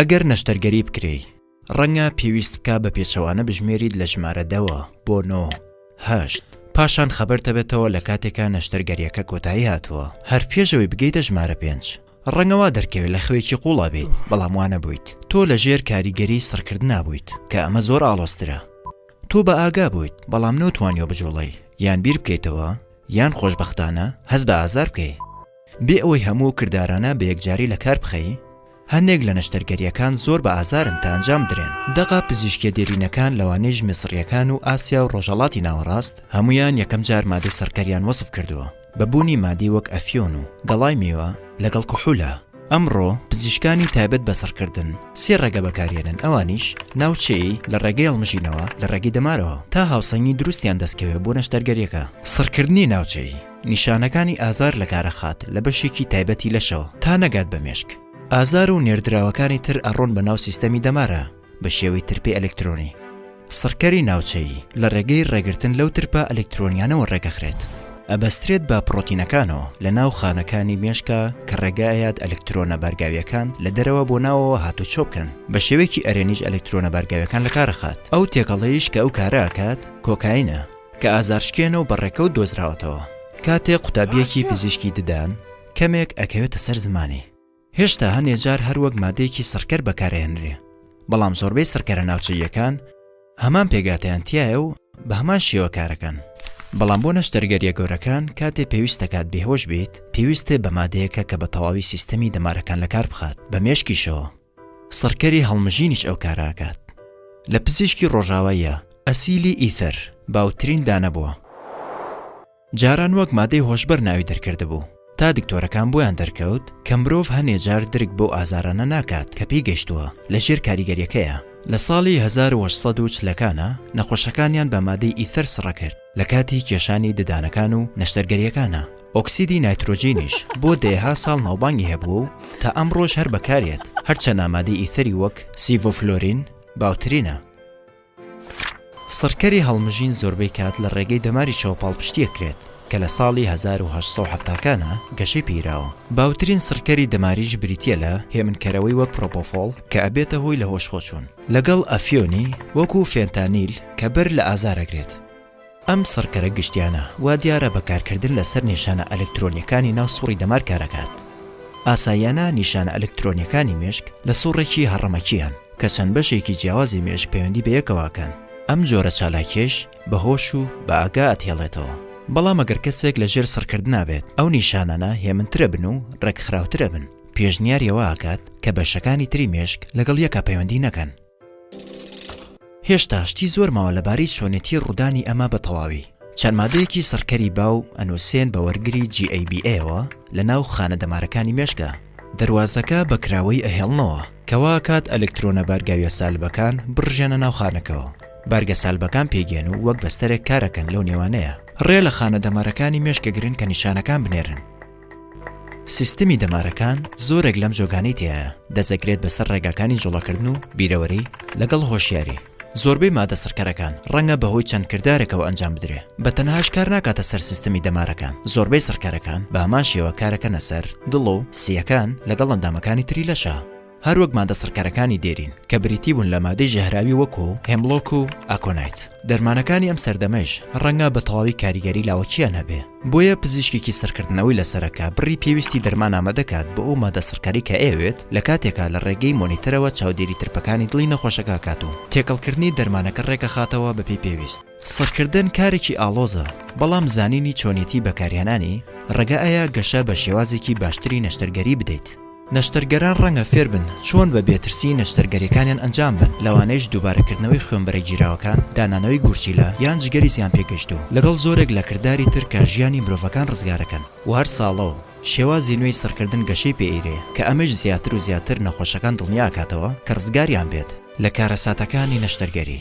ئەگەر نەشتەرگەری بکرێی ڕەنگە پێویست بکە بە پێچەوانە بژمێریت لە ژمارە دەوە بۆ نۆ هەشت پاشان خەبەرتەبێتەوە لە کاتێکا نەشتەرگەریەکە کۆتایی هاتووە هەر پێشەوەی بگەیتە ژمارە پێنج ڕەنگەوا دەرکەوێت لە خوێکی قوڵا بیت بەڵام وانە بوویت تۆ لە ژێر کاریگەری سڕکردنا بوویت کە ئەمە زۆر ئاڵۆسترە تۆ بە ئاگا بوویت بەڵام نۆتوانیوە بجوڵێی یان بیر بکەیتەوە یان خۆشبەختانە هەست بە ئازار بکەی بێ ئەوەی هەموو کردارانە بە یەکجاری لە کار بخەی هەندێک لە نەشتەرگەریەکان زۆر بە ئازارن تا ئەنجام بدرێن دەقە پزیشکیە دێرینەکان لەوانەیش میسڕیەکان و ئاسیا و ڕۆژهەڵاتی ناوەڕاست هەموویان یەکەم جار مادەی سڕکەریان وەسف کردووە. بە بوونی مادەی وەک ئەفیۆن و گەڵای مێوە لەگەڵ کحولە. ئەمڕۆ پزیشکانی تایبەت بە سڕکردن سێ ڕێگە بەکاریێنن ئەوانیش، ناوچەیی، لە ڕێگەی هەڵمژینەوە لە ڕێگەی دەمارەوە تا هاوسەنگی دروستیان دەستکەوێ بۆ نەشتەرگەریەکە. سڕکردنی ناوچەیی، نیشانەکانی ئازار لە کارەخات لە بەشێکی تایبەتی لەشەوە تا نەگات بە مێشک. ئازار و نێردراوەکانی تر ئەڕۆن بە ناو سیستەمی دەمارە. بە شێوەی ترپی ئەلکترۆنی. سڕکەری ناوچەیی، لە ڕێگەی ڕێگرتن لەو ترپە ئەلکترۆنیانەوە ڕێکەخرێت. ئەبەسترێت بە پڕۆتینەکانەوە لە ناو خانەکانی مێشکا کە ڕێگە ئەیات ئەلکترۆنە بارگاویەکان لە دەرەوە بۆ ناوەوە هاتوچۆ بکەن، بە شێوەیەکی ئەرێنیش ئەلکترۆنە بارگاویەکان لە کارەخات، ئەو تێکەڵەیش کە ئەو کارە ئەکات کۆکاینە کە ئازارشکێنە و بە ڕێکەوت دۆزراوەتەوە کاتێک قوتابیەکی پزیشکی ددان کەمێک ئەکەوێتە سەر زمانی. هێشتا هەنێ جار هەر وەک مادەیەکی سڕکەر بەکارئەهێنرێ، بەڵام زۆربەی سڕکەرە ناوچەییەکان هەمان پێکهاتەیان تیایە و بە هەمان شێوە کارەکەن. بەڵام بۆ نەشتەرگەرییە گەورەکان کاتێ پێویست دەکات بێهۆش بیت، پێویستت بە مادەیەکە کە بە تەواوی سیستەمی دەمارەکان لە کار بخات، بە مێشکیشەوە. سڕکەری هەڵمژینیش ئەو کارە ئەکات. لە پزیشکی ڕۆژاواییا، ئەسیلی ئیثەر باوترین دانە بووە. جاران وەک مادەی هۆشبەر ناوی دەرکردبوو، تا دکتۆرەکان بۆیان دەرکەوت کە مرۆڤ هەنێ جار درک بەو ئازارانە ناکات کە پێی گەشتووە، لە ژێر کاریگەریەکەیە. لە ساڵی هەزار و هەشت سەد و چلەکانا نەخۆشەکانیان بە مادەی ئیثەر سڕە کرد لە کاتی کێشانی ددانەکان و نەشتەرگەریەکانا، ئۆکسیدی نایترۆجینیش بۆ دەیەها ساڵ ناوبانگی هەبووە و تا ئەمڕۆش هەر بەکاریەت، هەرچەنا مادەی ئیثەری وەک سیڤۆفلۆرین باوترینە. سڕکەری هەڵمژین زۆربەی کات لە ڕێگەی دەماری چەوە پاڵپشتی ئەکرێت، کە لە ساڵی هەزار و هەشت سەد و حەفتا کانە گەشەی پێیراوە. باوترین سڕکەری دەماریش بریتییە لە هێمنکەرەوەی وەک پرۆپۆفۆڵ کە ئەبێتە هۆی لەهۆشخۆچوون. لەگەڵ ئەفیۆنی وەکوو فێنتانیل کە بەر لە ئازار ئەگرێت. ئەم سڕکەرە گشتیانە وادیارە بە کارکردن لەسەر نیشانە ئەلکترۆنیەکانی ناو سوڕی دەمار کارەکات. ئاساییانە نیشانە ئەلکترۆنیەکانی مێشک لە سوڕێکی هەڕەمەکییان کە چەند بەشێکی جیاوازی مێشک پەیوەندی بەیەکەوەکەن. ئەم جۆرە چالاکیەیش بە هۆش و بە ئاگا ئەتهێڵێتەوە. بەڵام ئەگەر کەسێک لە ژێر سڕکردنا بێت ئەو نیشانانە هێمنترە بن و ڕێکخراوترە بن. پێشنیاری ئەوە ئەکات کە بەشەکانی تری مێشک لەگەڵ یەکا پەیوەندی نەکەن. هێشتا شتی زۆر ماوە لەبارەی چۆنێتی ڕوودانی ئەمە بە تەواوی. چەند مادەیەکی سڕکەری باو ئەنووسێن بە وەرگری GABA ەوە لە ناو خانە دەمارەکانی مێشکە، دەروازەکە بە کراوەی ئەهێڵنەوە کە وا ئەکات ئەلکترۆنە بارگاویە سالبەکان بڕژێنە ناو خانەکەوە، بارگە سالبەکان پێیگەن و وەک بەستەرێک کارەکەن لەو نێوانەیە. ڕێ لە خانە دەمارەکانی مێشکەگرن کە نیشانەکان بنێرن. سیستمی دەمارەکان زۆرێک لەم جۆگانەی تێایە دەزەکرێت بەسەر ڕێگاکانی جوڵەکردن و بیرەوەری لەگەڵ هۆشیاری زۆربەی مادە سڕکەرەکان ڕەنگە بەهۆی چەند کردارێکەوە ئەنجام بدرێ بە تەنهاش کار ناکاتە سەر سیستمی دەمارەکان زۆربەی سڕکەرەکان بە هەمان شێوە کارەکەنە سەر دڵ و سییەکان لەگەڵ ئەندامەکانی تری لەشە هەر وەک مادە سڕکەرەکانی دێرین کە بریتی بوون لە مادەی ژەهراوی وەکو هێملۆک و ئاکۆنایت دەرمانەکانی ئەم سەردەمەیش ڕەنگە بە تەواوی کاریگەری لاوەکییان هەبێ بۆیە پزیشکێکی سڕکردنەوەی لەسەرەکە بڕی پێویستی دەرمان ئامادەکات بۆ ئەو مادە سڕکەرەی کە ئەیەوێت لە کاتێکا لە ڕێگەی مۆنیتەرەوە چاودێری ترپەکانی دڵی نەخۆشەکە ئەکات و تێکەڵکردنی دەرمانەکە ڕێکئەخاتەوە بەپێی پێویست. سڕکردن کارێکی ئاڵۆزە، بەڵام زانینی چۆنیەتی بەکارهێنانی، ڕێگە ئەیا گەشە بە شێوازێکی باشتری نەشتەرگەری بدەیت. نەشتەرگەران ڕەنگە فێربن چۆن بە بێترسی نەشتەرگەریەکانیان ئەنجام بەن، لەوانەیش دووبارەکردنەوەی خوێنبەرە گیراوەکان، دانانەوەی گورچیلە، یان جگەری زیانپێگەیشتوو، لەگەڵ زۆرێک لە کرداری تر کە ژیانی مرۆڤەکان ڕزگارەکەن. و هەر ساڵەو شێوازی نوێی سڕکردن گەشەی پێ ئەیرێ، کە ئەمەیش زیاتر و زیاتر نەخۆشەکان دڵنیا ئەکاتەوە کە ڕزگاریان بێت. لە کارەساتەکانی نەشتەرگەری.